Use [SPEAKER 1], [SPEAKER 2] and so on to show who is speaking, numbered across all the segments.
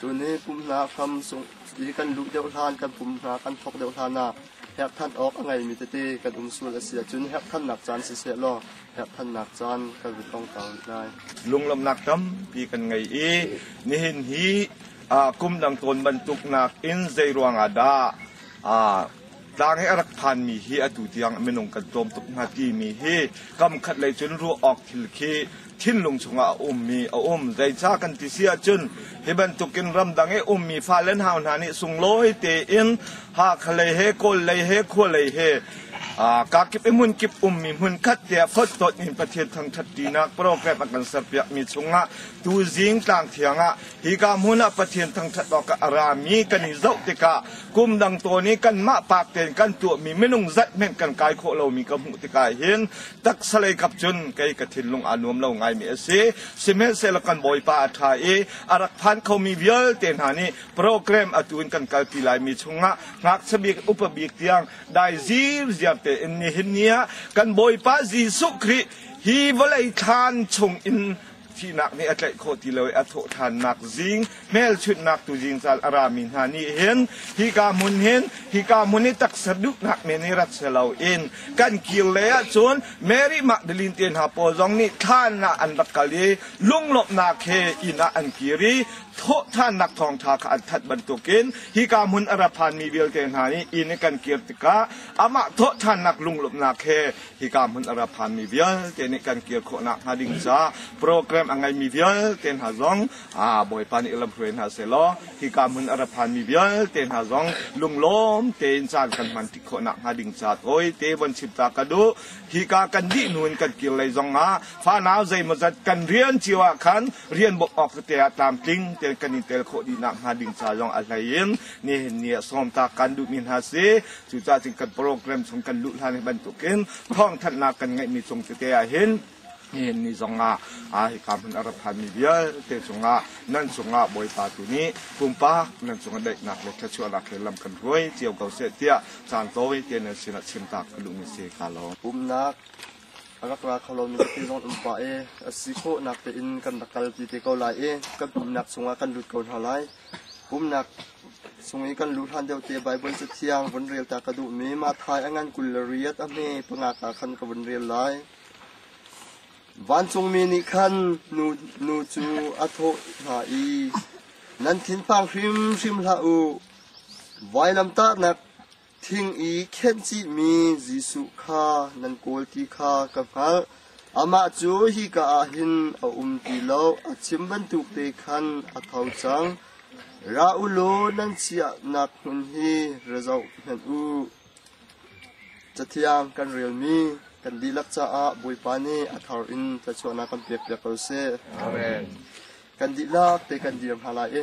[SPEAKER 1] Tunih pum hna hram sungh i kan luh deuh hlan, kan pum hna kan thawk deuh hlanah herhthan awk a ngeimi tete kan um sual a si ahcun herhthannak caan siseh law herhthannak caan kan vun ong ta rih lai. Lunglawmhnak tampi kan ngei i nihin hi kum dang tawn bantuk nakin zei ruangah dah tlang he a rak phanmi hi atu tiang minung kan tawm tuk hna timi hi kamkhat lei cun ruah awk thil khi thinlung chungah a ummi a um zeica kan ti si ahcun hi bantukin ramdang i ummi fale hau hna nih sunglawi tein hakha lei he kawl lei he khua lei he kakip i hmun kip ummi hmun khat tiah phottot in pathian thangthat tinak program a kan serpiakmi chungah tu zing tlang thiang ah Hika hmun ah Pathian thangṭhat awkah a rami kan i zoh tikah kum dang tawn i kanmah paak tein kan tuahmi minung zat hmanh kan kai khawh lomi ka hmuh tikah hin taksa lei kap cun kei ka thinlung aa nuam lo ngaimi a si. Sihmanhsehlaw kan Bawipa a ṭha i a rak phan khomi vialte hna nih program atu in kan kalpi laimi chungah ngakchia bik upa bik tiang dai zir ziar tein nihin ni ah kan Bawipa Jesuh Khrih hi vawlei thlan chung in thihnak nih a tlaih khawh ti lo i a thawhthannak zing hmelchunhnak tu zingzal a rami hna nih hin hika hmun hin hika hmun i taksa duhnak men hi rat selo in kan kir lei ahcun Mary Magdalene te hna pawl zong nih thlan ah an rak kal i lunglawmhnak he inn ah an kir i thawhthannak thawngtha kha an that bantukin hika hmun a ra phanmi vialte hna nih inn i kan kir tikah amah thawhthannak lunglawmhnak he hika hmun a ra phanmi vialte nih kan kir khawhnak hnga ding caah program a ngeimi vialte hna zong aa bawipa nih lam hruai hna selaw hika hmun a ra phanmi vialte hna zong lunglawm tein caan kan hman tik khawhnak hnga ding caah tawi te von chim ta ka duh hika kan dih hnu in kan kir lei zong ah fanau zeimazat kan rian cio ah khan rian bok awk te ah tlamtling te kan in tel khawh dihnak hnga ding ca zong a hlei in nihin ni ah sawm ta kan duhmi hna si cucah cun kan program chung kan luh hlan bantukin thawngthanhnak kan ngeihmi cung tete ah hin hin ni zong ah a hika hmun a rat thanmi vialte cungah nan cungah bawipa tu nih pumpak nan cungah daihnak le thachuahnak he lam kan hruai cio ko seh tiah caan tawi te nan sinah chimtak ka duhmi si ka lawm umnak a rak ra kho lomi tete zong um pah e a si khawhnak tein kan rak kal ti te ko lai e kan umnak chungah kan lut ko hna lai umnak Sungei kan lu hlan deuh te Baibal Cathiang vun rel ta ka duhmi Matthai a ngan kul le riat a hme pangak ah khan ka vun rel lai. Vancungmi nih khan nu, nu cu a thawh hna i, Nan thinphang hrimhrim hlah u. Vailamtahnak Thing i khencihmi Jesuh kha nan kawl ti kha ka hngalh. Amah cu hika ah hin a um ti lo, a chim bantuk te khan a tho cang. Ra u law nan chiahnak hmun hi ra zoh hmanh u. Cathiang kan relmi kan dihlak caah Bawipa nih a thar in tlachuahnak kan pekpiak ko seh. Amen. Kan dihlak te kan dir hna lai i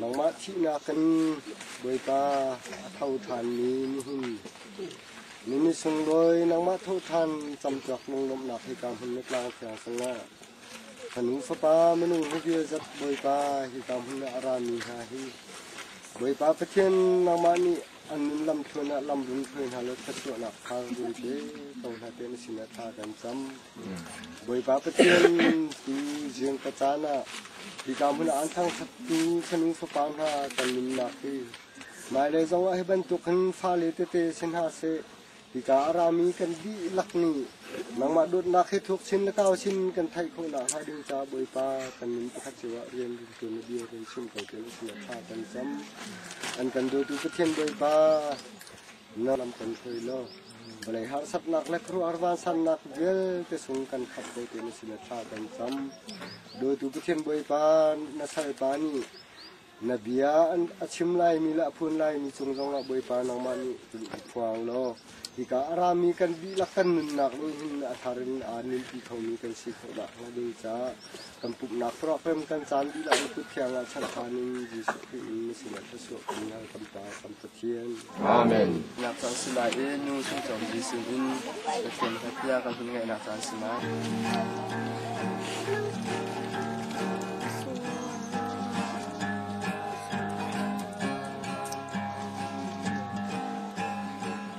[SPEAKER 1] Nangmah thihnak in Bawipa a tho ṭhanmi nihin na misunglawi nangmah thawhṭhan camṭuak lunglawmhnak hika hmun na tlang thiang cungah ka nu fapa minung hi vialzat Bawipa hika hmun ah a rami hna hi Bawipa Pathian nangmah nih an nun lamthluan ah lamrun hruai hna law thluachuahnak kha run pe ko hna tiah na sinah thla kan cam. Bawipa Pathian tu ziang ka caan ah hika hmun ah an thangṭhatmi fanu fapa hna kan nunnak hi mailei zongah hi bantuk hin fale tete si hna seh hika a rami kan dihlak nih nangmah dawtnak hi thuk chin le tau chin kan theih khawh nak hnga ding caah Bawipa kan nun pakhat cio ah rian rin tu na bia kan chim ko ti na sinah tha kan cam an kan dawtu Pathian Bawipa Na lam kan hruai law vawlei harsatnak le khuaruahhar vansannak vialte sung kan khat ve ti na sin thla kan cam. Dawtu Pathian Bawipa na salpa nih na bia a chim laimi le a phun laimi cung zongah Bawipa nangmah nih cun i phuang law hika a rami kan dihlak kan nunnak nih hin a thar in aa nunpi khomi kan si khawh dah hnga ding caah Kan pumhnak tuahrem kan caan dihlak in Kuthiang ah chalh ṭhan in Jesuh Khrih in na sinah thluachuah kan ngei kan Pa kan Pathian. Amen. Nak caan si lai i nu sungcom Jesuh sinin Pathian kha tiah kan hun ngaihnak caan si lai.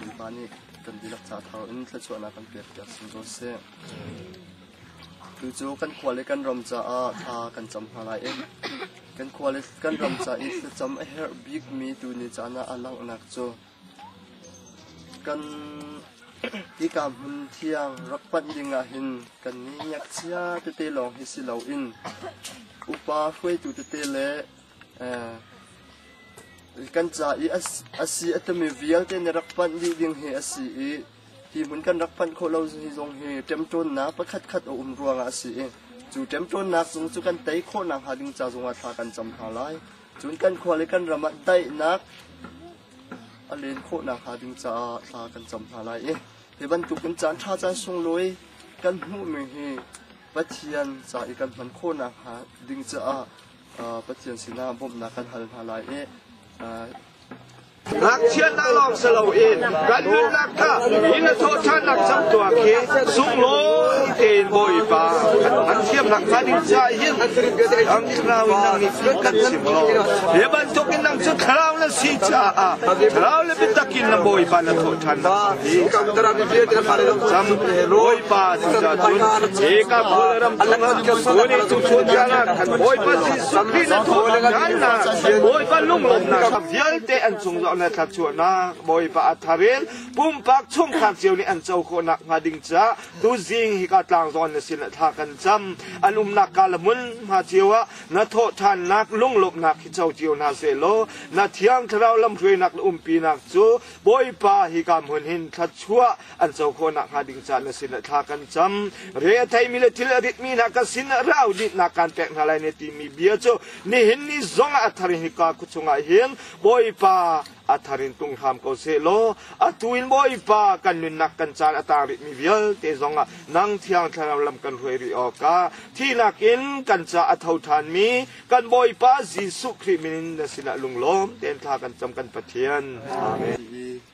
[SPEAKER 1] mipa nih kan dihlak ca thar in thluachuahnak kan pekpiak sim ko sih. Tu cu kan khua le kan ram caah thla kan cam hna lai i kan khua le kan ram ca i thlacam a herh bikmi tu ni caan ah a langhnak cu Hika hmun thiang rak panh dingah hin kan i ngakchia tete lawng hi si loin upa hruaitu tete le kan ca i a si a timi vialte na rak panh dih ding hi a si i Hi hmun kan rak phanh khawh lo zong hi ṭemṭawnnak pakhatkhat a um ruangah a si i cu ṭemṭawnnak zung cu kan tei khawh nakhnga ding ca zongah thla kan cam hna lai. Cun kan khua le kan ram ah daihnak a len khawh nakhnga ding caah thla kan cam hna lai i hi bantukin caan ṭha caan sunglawi kan hmuhmi hi Pathian ca i kan hman khawh nakhnga ding caah Pathian sinah bawmhnak kan hal hna lai i ngakchiatnak lawng si loin kan nunnak kha in a thawhṭhannak cang tuah khi sunglawi tein Bawipa an thiamnak kha ning ca hin ang thlarau in nang nih kan chim law hi bantuk in nang cu thlarau na si caah thlarau le biatak in na Bawipa na thawhṭhannak kha hi cam Bawipa ti cun he ka kul ram chung tuni tu chun kana kan Bawipa si sukri na thawhṭhannak Bawipa lunglawmhnak vialte an cung zoh le thluachuahnak Bawipa a thar in pumpak chungkhar cio nih an co khawhnak hnga ding caah tuzing hika tlangzawn na sin le thla kan cam an umnak ka le hmun hma cio ah na thawhthannak lunglawmhnak hi co cio hna se law na thiang thlarau lamhruainak le umpinak cu Bawipa hika hmun hin thluachuah an co khawh nak hnga ding caan a si le thla kan cam re a theimi le thil a ritmi hna ka sin ah rau dinhnak kan pek hna lai ne timi bia cu nihin ni zong ah a thar in hika khu chungah hin bawipa a thar in tung hram ko se law atu in bawipa kan nunnak kan caan a tang ritmi vialte zong ah nang thiang thlarau lam kan ruai ri awk ah thihnak in kan ca a tho thanmi kan bawipa Jesuh Khrih min na sinah lunglawm ten thla kan cam kan Pathian amen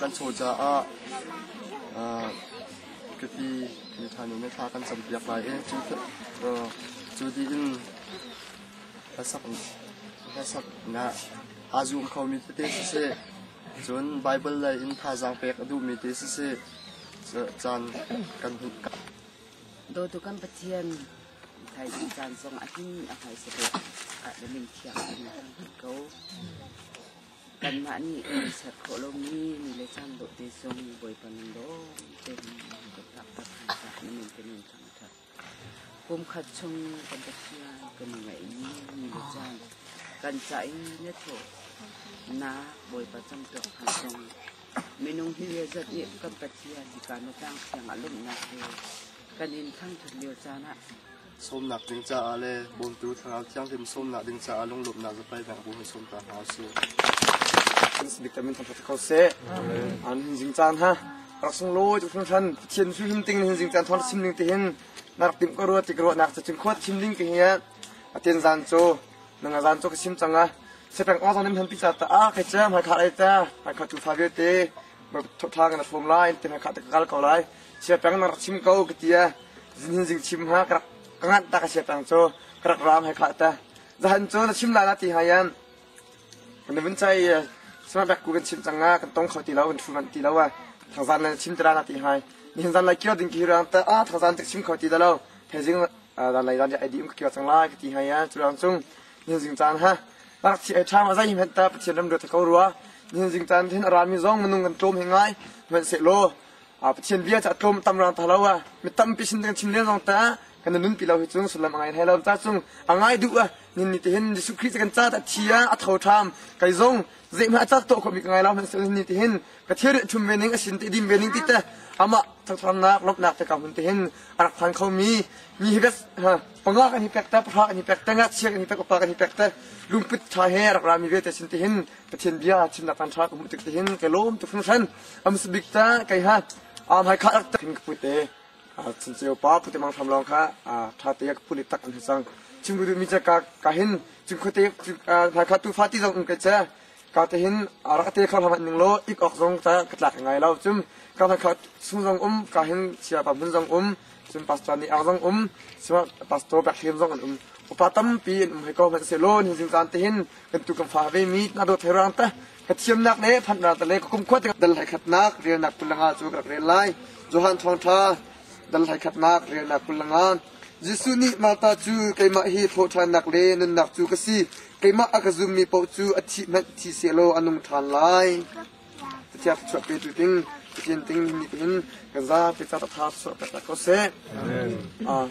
[SPEAKER 1] Kan chaw caah kati miṭha nih miṭha kan campiak lai i cu dih in hneksak aa zum khomi tete siseh cun Baibal lei in thazaang pek a duhmi te siseh caan kan hmuh. Dawtu kan Pathian, Thaizing caan zong a him a hmaisa deuh ah le min thiang a him cang ko. Kanmah nih kan ser khawh lomi ni le caan dawh te zong Bawipa min lawngte in kan taktak hna caah na min kan in thangṭhat. Kumkhat chung kan Pathian kan i ngaihmi ni le caan kan ca i na thawhnak Bawipa camtuak hna zong minung hi zat nih kan Pathian hika na tlang thiang a lumnak he kan in thangṭhat lio caan ah sawmnak ding caah le bawmtu thlarau thianghlim sawmnak ding caah lunglawmhnak zapai bang bu hei sawm ta hna usih. Bismik tamin thang ko se. An hin jing caan ha. Rak sung lawi tu hrim than Pathian su him ting hin jing caan thon sim ning ti hin narak tim ko ruwa ti ko nak ta chin khwat chim ding ki hiya aten zan cho nang zan cho ka sim changa sepeng o zon nem han pi cha ta a kai cha mai kha ai ta mai kha tu fa ge te ma thotha ga na fom lai ten ka ta gal ko lai sia tang na rak chim ko ka ti a zin zing chim ha ka rak ka nganh ta ka sia tang cu ka rak raam he khla ta zahan cu na chim la la ti hayan na vun chai sama bek ku kan chim chang nga kan tong kho ti lo kan thu man ti lo a thangzan na chim tira na ti hai ni han zan lai kyo ding ki ram ta a thangzan tak chim kho ti da lo thai jing dan lai dan ja edim ka kyo chang lai ka ti hayan chu ram chung ni jing chan ha bak chi ai tha ma zai hmet ta pathian ram do ta ko ruwa ni jing chan thin ran mi zong manung kan tom he ngai men se lo Pathian bia cu a tlawm tam rang ta lo a mi tampi sin kan chim len zong ta kan nun pi lo hi cung sullam a ngai thai lo ta cung a ngai duh a nin ni te hin Jesuh Christ kan ca ta thi a a tho tham kai zong zeihma a cak to kho mi ka ngai lo hman sin ni te hin ka thir thum ve ning a sin te dim ve ning ti te ama thangthangnak lopnak te ka hun te hin a rak than kho mi mi hi bes panga kan hi pek ta phra kan hi pek ta nga chia kan hi pek pa kan hi pek ta lumput tha he rak ra mi ve te sin te hin pathian bia chim nak kan tha ka mu tik te hin ke lom tu fun shan Amas bik ta kai hat a mai kha tak tin ka pu te a chin cheu pa pu te mang tham long kha a tha te ka pu ni tak an sang chim ru mi cha ka ka hin chim kho te mai kha tu fa ti zong kai cha ka te hin a ra te kha hama ning lo ik ok zong ta ka tlak ngai lo chum ka na kha sung zong um ka hin sia pa mun zong um chum pastor ni ak zong um sima pastor bak him zong an um upa tam pi in um hai ko ma se lon hin sin zan te hin kan tu kan fa ve mi na do therang ta Ka thiamnak le phanhnak le ka kumkhua te dal hlaikhatnak relnak kulanga cu ka rel lai Johan thawngtha dal hlaikhatnak relnak kulanga Jesuh nih Martha cu keimah hi hlawhṭhannak le nunnak cu ka si keimah a ka zummi paoh cu a thi hmanh thi se law a nung ṭhan lai Pathian thluachuah petu ding Pathian ding nihin kan zapi ca tha suah tak ko seh Amen.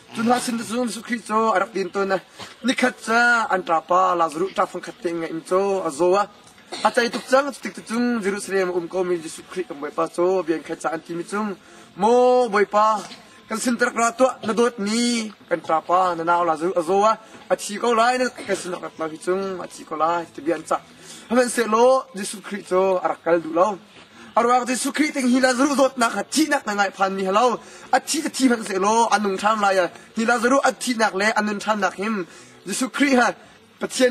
[SPEAKER 1] Cun Jesuh Khrih cu a rak din tawn. Nikhat cu an ṭapa Lazaruh ṭa fangkhat te ngeih in cu a zaw a a cei tuk cang cutik cu cun Jerusalem a um komi Jesuh Khrih kan Bawipa cu bian khat ca an timi cung maw Bawipa kan sintarak ra tuah na dawtmi kan ṭapa na nau Lazaruh a zaw a a thi ko lai na kan sinak rak tlau hi cung a thi ko lai ti bian cah Hmanhsehlaw Jesuh Khrih cu a rak kal duh lo. A ruak Jesuh Khrih ting hi Lazaruh zawtnak kha thihnak na ngai phanmi ha lo. A thi a thi hmanhsehlaw a nung ṭhan lai. Hi Lazaruh a thihnak le a nun ṭhannak hin Jesuh Khrih ha Pathian